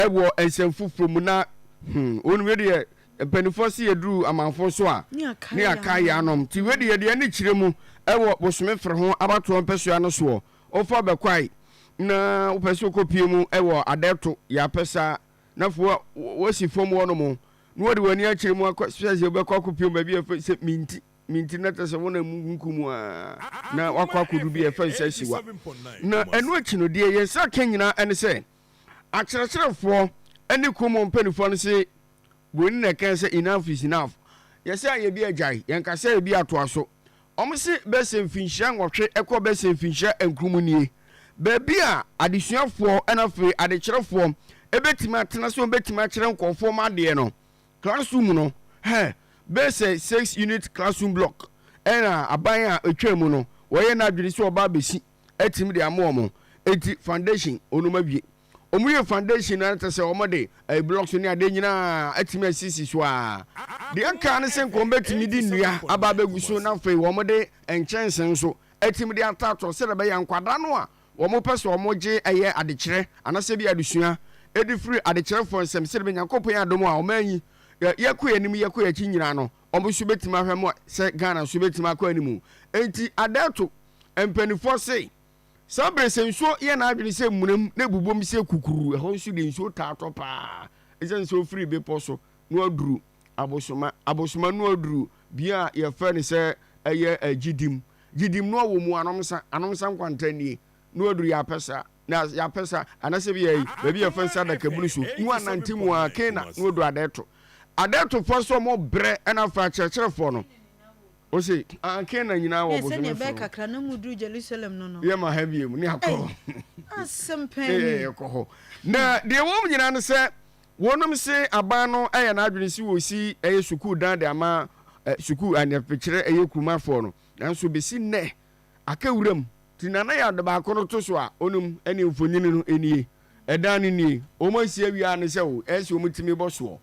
Wɔ nsɛm foforɔ mu na hmm won wei deɛ mpaninfoɔ se yɛduru amanfoɔ so a ne yɛakae yɛn anom nti wei deɛ yɛde ani kyerɛ mu wɔ bosome fere ho abatoɔ mpɛsoa no soɔ wofa bɛkwae na wopɛ sɛ wokɔ pie mu wɔ adɛɛto yɛ apɛ saa na fo wosi fam hɔ nom na wɔde w'ani akyerɛ mu akɔ sɛ sɛ wobɛkɔ akɔ pie mu baabi a ɛfɛ sɛ minti minti na tɛ sɛ wona mu nku mu a na wakɔ akɔdu bi a ɛfɛ sɛ siwa na ɛno akyi no deɛ yɛn nsa ka nyinaa ɛne sɛ Akyerɛkyerɛfoɔ ne kuo mu mpaninfoɔ no se Buroni na ɛkae sɛ enough is enough, yɛse ayɛ bi agyae, yɛnka sɛ ayɛ bi atoa so. Wɔn se bɛsɛ mfinhyia nwɔtwe kɔ bɛsɛ mfinhyia nkron mu nie, baabi a adesuafoɔ na afei adekyerɛfoɔ bɛtumi atena sɛ wɔbɛtumi akyerɛ nkorɔfoɔ wɔn adeɛ no. Classroom no, hɛ, bɛsɛ six unit classroom block na aban a ɛtwaa mu no wɔyɛ no adwene sɛ wɔba abɛsi. atumi de ama wɔn nti foundation wɔn awie wɔn yɛ foundation na te sɛ wɔn de ɛyɛ eh, blocks ne adeɛ nyinaa atumi asisi so a deɛ ɛka ne sɛ nkɔn bɛtumi de nnua aba abɛgu so na afei wɔn de nkyɛnse nso atumi de atatɔ sɛ de bɛyɛ nkwadaa no a wɔn pɛ sɛ wɔn gye ɛyɛ adekyerɛ anasɛ bi adesua ɛde firi adekyerɛfoɔ nsɛm sɛ de bɛ nyankopɔn adom a wɔn anyi yɛkɔ yɛn anim yɛkɔ yɛn akyi nyinaa no wɔn nso bɛtumi ahwɛ mu sɛ ghana nso bɛtumi akɔ anim nti adɛɛto Mpanimfoɔ se, saa berɛ sɛ nsuo yɛ n'adwene sɛ mmunam na ɛbobom sɛ kukuruu. Ɛhɔ nso deɛ nsuo taa tɔ pa ara ɛsiane sɛ ɔfiri bepɔ so na waduru abosoma. Abosoma no aduru bea a yɛfrɛ no sɛ ɛyɛ Gyidim. Gyidim no wɔ mu Anomsa, Anomsa nkwanta nie, na waduru Yapɛsa, na Yapɛsa anaasɛ bia yi baabi a yɛfrɛ no sɛ Adakabunu so na wanante mu ara kena na wadu Adɛɛto. Adɛɛtofoɔ nso wɔbrɛ na afei akyerɛkyerɛfoɔ no. Ose, Aah, Canaan nyinaa wɔ bosome sono. Ne sɛdeɛ ɛbɛyɛ kakra na mu duru Jerusalem no no. Yɛma ha biom ne akɔ hɔ. Asɛm pɛn ni. Ne yɛkɔ hɔ. Na deɛ ɛwɔ mu nyinaa ne sɛ, wɔnom se aban no ayɛ n'adwene se wɔsi ɛyɛ sukuu dan de ama sukuu aneɛpekyerɛ ɛyɛ Kuruma foɔ no, nanso besi nnɛ, aka wuram. Nti Nana yɛ ade baako no to so a, onom ɛne mfonyini no nie. Ɛdan no nie, wɔn asi awie a ne sɛ wo ɛsɛ wɔn tumi bɔ soɔ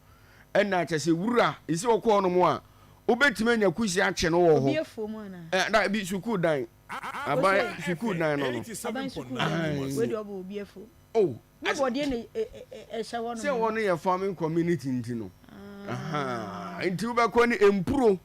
ɛna kyɛ sɛ wura esi ɔkɔ hɔ nom a wo bɛtumi anya kusi akye no wɔ hɔ ɛɛ da bi sukuu dan aban sukuu dan no no ahan oh sɛ wɔn no yɛ farming community nti no ahan nti wo bɛkɔ ne mpuro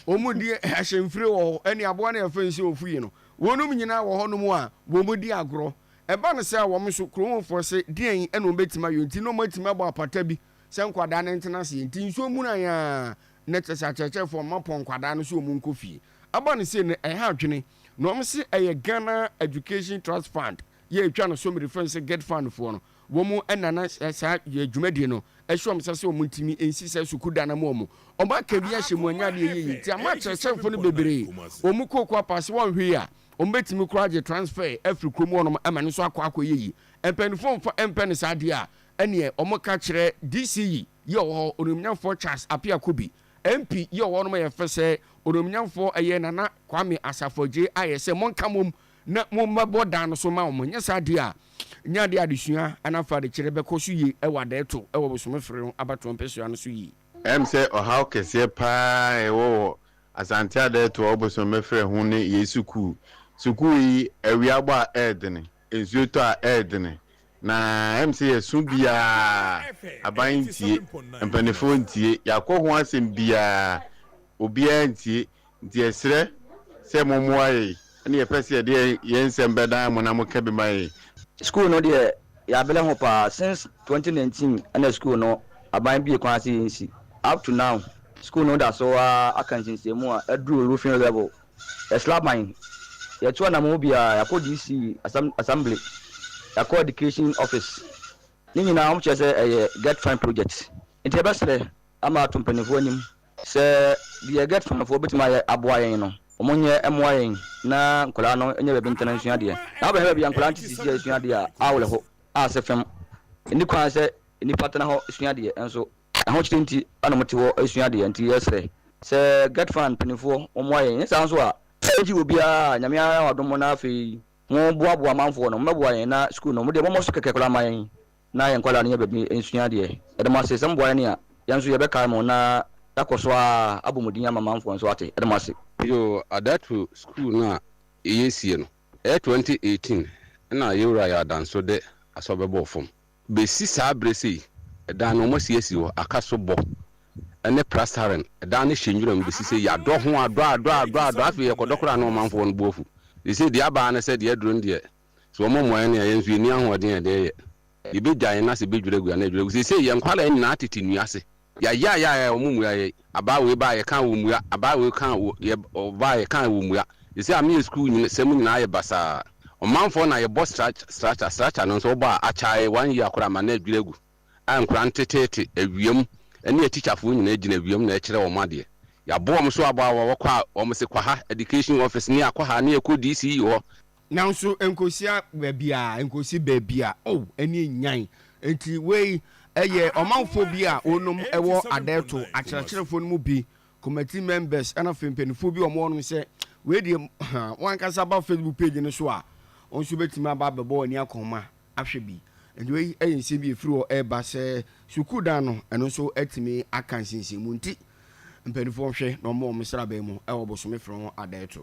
wɔn di ahyɛnfire wɔ hɔ ɛne aboa no yɛ fɛn sɛ ofu yi no wɔn nyinaa wɔ hɔ nom a wɔn di agorɔ. Ɛba no saa a, wɔn nso, kurom hɔfoɔ se, Deɛn na wɔbɛtumi ayɛ nti na wɔatumi abɔ apata bi sɛ nkwadaa no ntena aseɛ? Enti nsuo munaeɛ ara, na kyerɛ sɛ akyerɛkyerɛfoɔ no mma pɔn nkwadaa no sɛ wɔnkɔ fie. Ɛba no sei no, ɛha adwene, na wɔn se ɛyɛ Ghana Education Trust Fund, yɛ ɛtwa no so mede frɛ no sɛ GETFund foɔ no, Wɔn na na saa dwumadie no ɛhyɛ wɔn nsa sɛ wɔn ntumi nsi saa sukuu dan no ama wɔn. Wɔn aka bi ahyɛ mu wɔn nyɛ adeɛ yie nti ama akyerɛkyerɛfoɔ no bebree wɔn kɔ kɔ apa sɛ wɔn hwee a wɔn bɛtumi koraa agye transfer afiri kurom hɔ nom ma no nso akɔ akɔ yɛ yie. Mpaninfoɔ mfa mpɛ no saa deɛ a ɛneɛ wɔn ka kyerɛ DC yi yɛ ɔwɔ hɔ Onuomnyamfoɔ Charles Appiah Kubi, MP yi ɔwɔ hɔ nom yɛ fɛ sɛ Onuomnyamfoɔ ɛyɛ Nana Kwame Asafo Adjei ayɛ sɛ monka mom na mommɛbɔ dan no so mma wɔn. Anyɛ saa de a, ɛnyɛ ade a adesua anaa farekyerɛ bɛkɔ so yie wɔ adaeɛto wɔ bosome fere no abatoɔ mpɛsoa no so yie. Ɛwom sɛ ɔhaw kɛseɛ pa ara a ɛwɔ wɔ Asante adaeɛto wɔ bosome fere ho ne yei sukuu. Sukuu yi, awia bɔ a ɛyɛ dene, nsuo tɔ a ɛyɛ dene, na ɛwom sɛ yɛso biara, aban ntie, mpaninfoɔ ntie, yɛakɔ ho asɛm biara, obiara ntie, Nti yɛsrɛ sɛ mommoa yɛn na yɛpɛ sɛ yɛde yɛn nsɛm bɛdan mo na moka bi ma yɛn. Sukuu no deɛ yɛabrɛ ho paa since twenty nineteen ɛna sukuu no aban bue kwan sɛ yɛnsi up to now sukuu no da so ara aka nsiesiemu a aduru roofing level yɛsra ban yɛtu anammɔn biara yɛakɔ DC assembly yɛakɔ education office ne nyinaa wɔkyerɛ sɛ ɛyɛ get fine project nti yɛbɛsrɛ ama ato mpaninfoɔ anim Sɛ deɛ Get Fund foɔ bɛtumi ayɛ aboa yɛn no, wɔn nyɛ mmoa yɛn na nkwadaa no nyɛ baabi ntena nsua adeɛ. Na wobɛhwɛ baabi a nkwadaa no te sisi a ɛsua adeɛ a, awerɛ ho a sɛ fam. Ɛnni kwan sɛ nnipa tena hɔ sua adeɛ, nso ahokyere nti na wɔte hɔ sua adeɛ. Nti yɛsrɛ sɛ Get Fund mpanimfoɔ wɔmmoa yɛn. Ɛnyɛ saa nso a, ɛregye obiara a Nyame ayɛ wo adom na afei moboaboa amanfoɔ no, mommɛboa yɛn na sukuu no, mo deɛ mommɔ so kɛkɛ koraa mma yɛn. na yɛn nkwadaa no nya baabi nsua adeɛ. Yɛda mo ase sɛ moboa yɛn a, yɛn nso yɛbɛkae mo na yɛakɔ so ara abɔ mo din ama manfoɔ nso ate. Yɛda mo ase. Yoo Adatu sukuu no a yɛ sie no ɛyɛ twenty eighteen ɛna yɛ wura yɛ adanso de asɔ bɛbɔɔ fam bɛsi saa berɛ sei ɛdan no wɔn asi asi hɔ aka so bɔ ɛne prastaren ɛdan no hyɛ nwura mu bɛsi sei yadɔ ho adɔ adɔ adɔ adɔ afei yɛkɔdɔ koraa na ɔmanfoɔ no bo afu seisei deɛ abaa ne sɛ deɛ aduro no deɛ Sɛ wɔmmɔ mmuaeɛ no a, yɛn nso yɛnni ahoɔden a ɛde yɛ. Yɛbɛgya yɛn ase bɛdwira agu anaa adwira agu. Seesei yɛn nkwadaa nyinaa tete nnua ase. Yɛayaayaayae a, wɔmmua yɛn. Abaa wei baa a, yɛka a wɔmmua. Abaa wei ka a, wɔ, yɛ, ɔba a, yɛka a wɔmmua. Seesei ame yɛ sukuu nyina, sɛm nyinaa ayɛ basaa. Ɔmanfoɔ na yɛbɔ stratch, stratcher, stratcher no nso wɔbɔ a, akyae one year koraa ama no adwira agu. A nkwadaa no teteete, awiam, ɛne atikyafoɔ nyinaa gyina awiam na ɛkyerɛ wɔn adeɛ. Yɛabɔ wɔn so abɔ a, wɔkɔ a, wɔn se kɔ ha, Education Office, ne yɛakɔ ha, ne yɛkɔ DCE hɔ. Nanso ɛnkosia baabiara, ɛnkosi baabia, oh, ɛne ɛnyan. Enti wei ɛyɛ ɔmanfoɔ bi a wɔnom ɛwɔ Adɛɛto, akyerɛkyerɛfoɔ no mu bi, committee members ɛna afei mpaninfoɔ bi a wɔwɔ nom sɛ, wei deɛ ha, wo ankasa ba Facebook page no so a, wo nso bɛtumi aba abɛbɔ w'ani akɔma ahwɛ bi. Enti wei ɛyɛ nsɛm bi a ɛfiri hɔ ɛreba sɛ sukuu dan no, ɛno nso atumi aka nsinsimu nti mpaninfoɔ nhwɛ na wɔmmɔ wɔn sraban mu ɛwɔ bosome frɛ ho Adɛɛto.